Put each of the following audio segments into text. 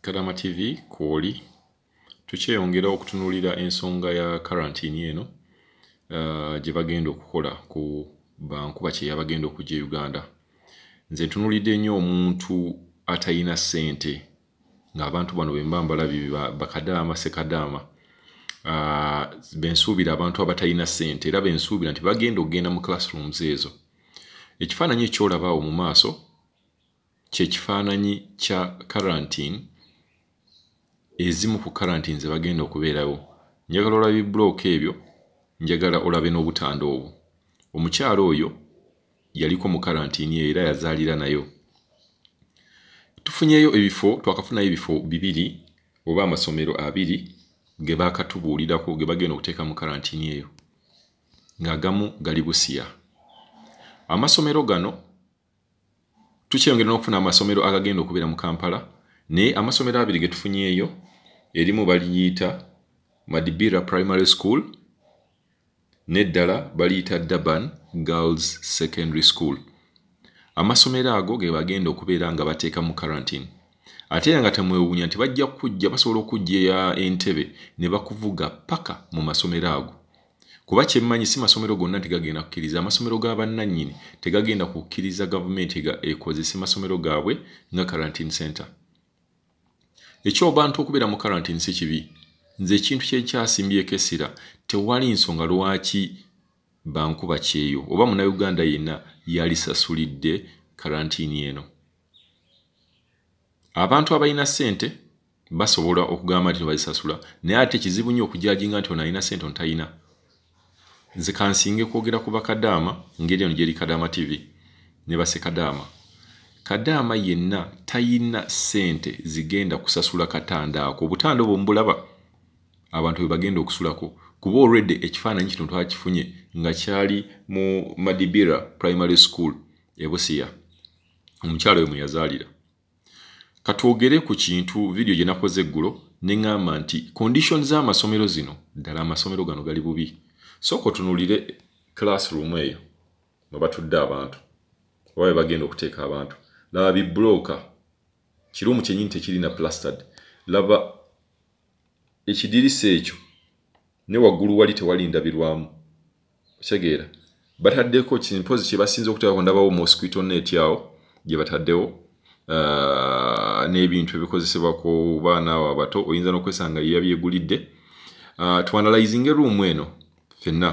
kadama tv kwoli tukyeyongera okutunulira ensonga ya karantini eno uh, gye bagenda okukola ku bankuba kyeyabagenda okujja e uganda nze ntunulidde nnyo omuntu atalina ssente ng'abantu bano bemba mbalabi bakadaama sekadaama uh, bensuubira abantu abatalina ssente era bensuubira nti bagenda okugenda mu classrooms ezo ekifaananyi ekyolabaawo mu maaso kyekifaananyi kya karantine ezimu ku karantine zebagenda okubeerawo njagala olaba ebibulooka ebyo njagala olabe n'obutanda obwo omukyalo oyo yaliko mu karantine eyo era yazaalira nayo tufunyeyo ebifo twakafunayo ebifo bibiri oba amasomero abiri ge baakatubuulirako ge bagenda okuteeka mu karantini eyo ng'agamu gali busiya amasomero gano tukyeyongera n'okufuna amasomero agagenda okubeera mu kampala naye amasomero abiri ge tufunyeeyo erimu baliyita madibira primary school n'eddala baliyita durban girls secondary school amasomero ago ge bagenda okubeera nga bateeka mu karantine ate era nga temwewuunya nti bajja kujja basobola okujja entebe ne bakuvuga paka mu masomero ago kuba kyemmanyi si masomero gonna nti gagenda kukkiriza amasomero ga bannannyini tegagenda kukkiriza gavumenti ekozese masomero gaabwe nga quarantine center ekyobantu okubeera mu quarantine si kibi nze ekintu kyekyasimbyeko essira tewali nsonga lwaki bankuba kyeyo oba munauganda yenna yalisasulidde quarantine eno abantu abalina ssente basobola okugamba nti bazisasula naye ate kizibu nnyo okujajinga nti ono alina sente ono talina nze kansinge kwogera ku bakadaama ngeri eno gyeri kadaama tv ne basekadaama kadaama yenna talina sente zigenda kusasula katanda ako obutanda obwo mbulaba abantu bwe bagenda okusulako kuba olwedde ekifaananyi kino twakifunye nga kyali mu madibira primary school ebusiya omukyalo we mweyazaalira katwogere ku kintu vidiyo gye nakoze eggulo ne ŋŋamba nti condition z'amasomero zino ddala amasomero gano gali bubi sooka otunulire classroom eyo mwe batudde abantu oba be bagenda okuteeka abantu laba biblooka kiruumu kyennyini tekirina plastard laba ekidirisa ekyo ne waggulu wali tewali ndabirwamu okitegeera bataddeko kimpozi kye basinza okuteekako ndabawo mosquito net awo gye bataddewo uh, n'ebintu ebikozesebwa ku baana abo abato oyinza n'okwesanga ye yabyegulidde uh, tuanalizinga eruumu eno fenna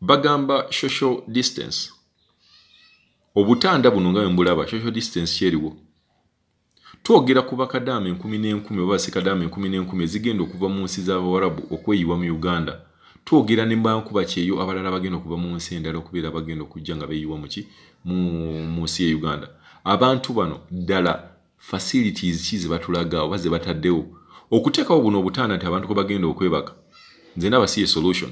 bagamba social distance obutanda buno nga wembulaba social distance kyeriwo Twogera ku bakadaama enkumi n'enkumi oba basekadaama enkumi n'enkumi ezigenda okuva mu nsi z'Abawarabu okweyiwa mu Uganda. Twogera ne bankuba kyeyo abalala abagenda okuva mu nsi endala okubeera abagenda okujja nga beeyiwa mu ki mu nsi y'e Uganda. Abantu bano ddala facilities ki ze batulaga oba ze bataddewo okuteekawo buno obutanda nti abantu kwe bagenda okwebaka. Nze ndaba si ye solution.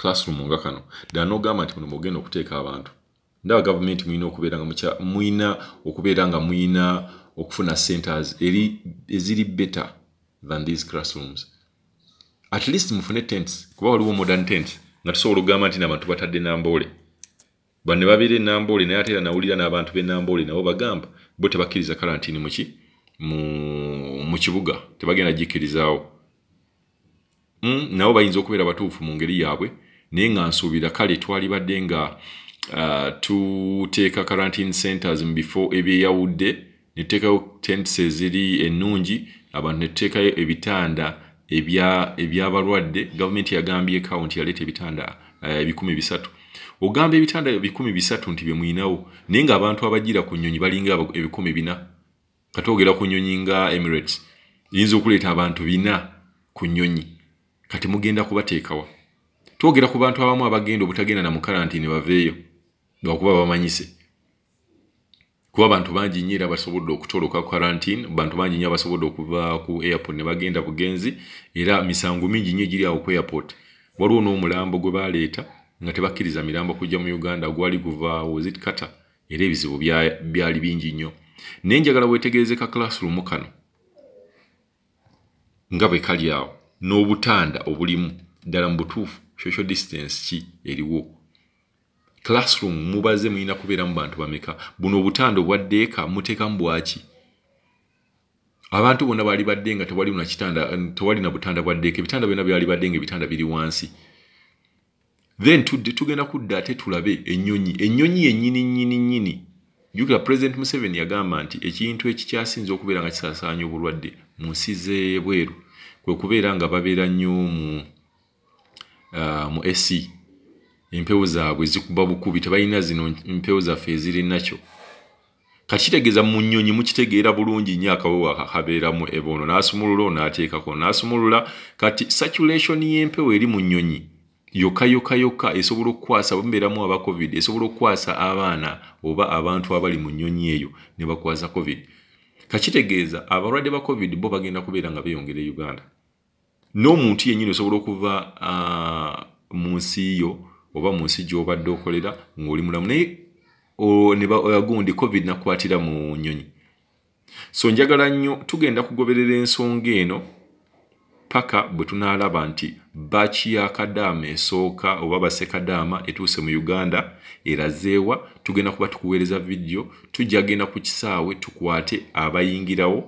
classroom nga kano ddala n'ogamba nti muno mugenda okuteeka abantu ndaba gavumenti mulina okubeera nga mukya mulina okubeera nga mulina okufuna centers eri eziri better than these classrooms at least mufune tents kuba waliwo modern tent nga tusobola okugamba nti nabantu batadde namboole bane babeera enamboole naye ate era nawulira n'abantu b'enamboole nabo bagamba bo tebakkiriza kalantini muki mu kibuga tebagenda gikirizaawo mm, nabo bayinza okubeera batuufu mu ngeri yaabwe naye nga nsuubira kale twalibadde nga uh, tuteeka quarantine centers mu bifo ebyeyawudde netuteekayo tents eziri ennungi abantu netuteekayo ebitanda ebyabalwadde ebya gavumenti yagambyeko nti yaleeta ebitanda uh, ebikumi uh, bisatu ogamba ebitanda ebikumi bisatu nti byemulinawo naye ngaabantu abajira ku nyonyi balinga ebikumi bina kati ogera ku nyonyi nga emirates yinza okuleeta abantu bina ku nyonyi kati mugenda kubateekawa twogera ku bantu abamu abagenda obutagenda na mukarantini baveeyo lwakuba bamanyise kuba abantu bangi nyo era basobodde okutoloka karantine bantu bangi nyo abasobodde okuva ku airport ne bagenda bugenzi era misango mingi nyo egiri awo ku airport waliwo n'omulambo gwe baleeta nga tebakkiriza mirambo kujja mu uganda gwali guva wozit kata era ebizibu byali bingi nnyo naye njagala wetegereze ka classroom kano nga bwe kali awo n'obutanda obulimu ddala mu butuufu social distance ki eriwo classroom mubaze mulina kubeeramu bantu bameka buno obutanda obwaddeeka muteekamu bwaki abantu bona bali badde nga tewali na kitanda tewali na butanda bwa ddeeka ebitanda byona byali badde nga ebitanda biri wansi then tudde tugenda kudda ate tulabe ennyonyi ennyonyi yennyini nnyini nnyini jukira president museven yagamba nti ekintu ekikyasinza okubeera nga kisasaanya obulwadde mu nsi zebweru kwe kubeera nga babeera nnyo mu uh, mu ac empewo zaabwe zikuba bukubi tebalina zino empewo zaffe ezirinakyo kakitegeeza mu nnyonyi mukitegeera bulungi nnyo akawewa kakabeera mu eboono n'asumulula onaateekako n'asumulula kati saculation y'empewo eri mu nnyonyi yokka yokka yokka esobola okukwasa bamubeeramu aba covid esobola okukwasa abaana oba abantu abali mu nnyonyi eyo ne bakwasa covid kakitegeeza abalwadde ba covid bo bagenda kubeera nga beeyongera e uganda n'omuntu yennyini osobola okuva uh, mu nsi yo oba mu nsi gy'obadde okolera ng'oli mulamu naye nebagundi covid nakwatira mu nyonyi so njagala nnyo tugenda kugoberera ensonga eno paka bwe tunaalaba nti baki ya kadaama esooka oba basekadaama etuuse mu uganda erazeewa tugenda kuba tukuweereza vidiyo tujja genda ku kisaawe tukwate abayingirawo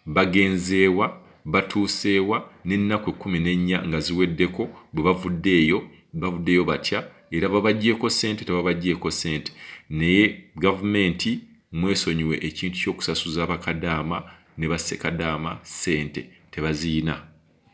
Bagenzeewa, batuuseewa n'ennaku ekkumi n'ennya nga ziweddeko bwe bavudde eyo, bavuddeyo batya era babaggyeeko ssente tababaggyeeko ssente naye gavumenti mwesonyiwe ekintu ky'okusasuza bakadaama ne bassekadaama ssente tebaziyina.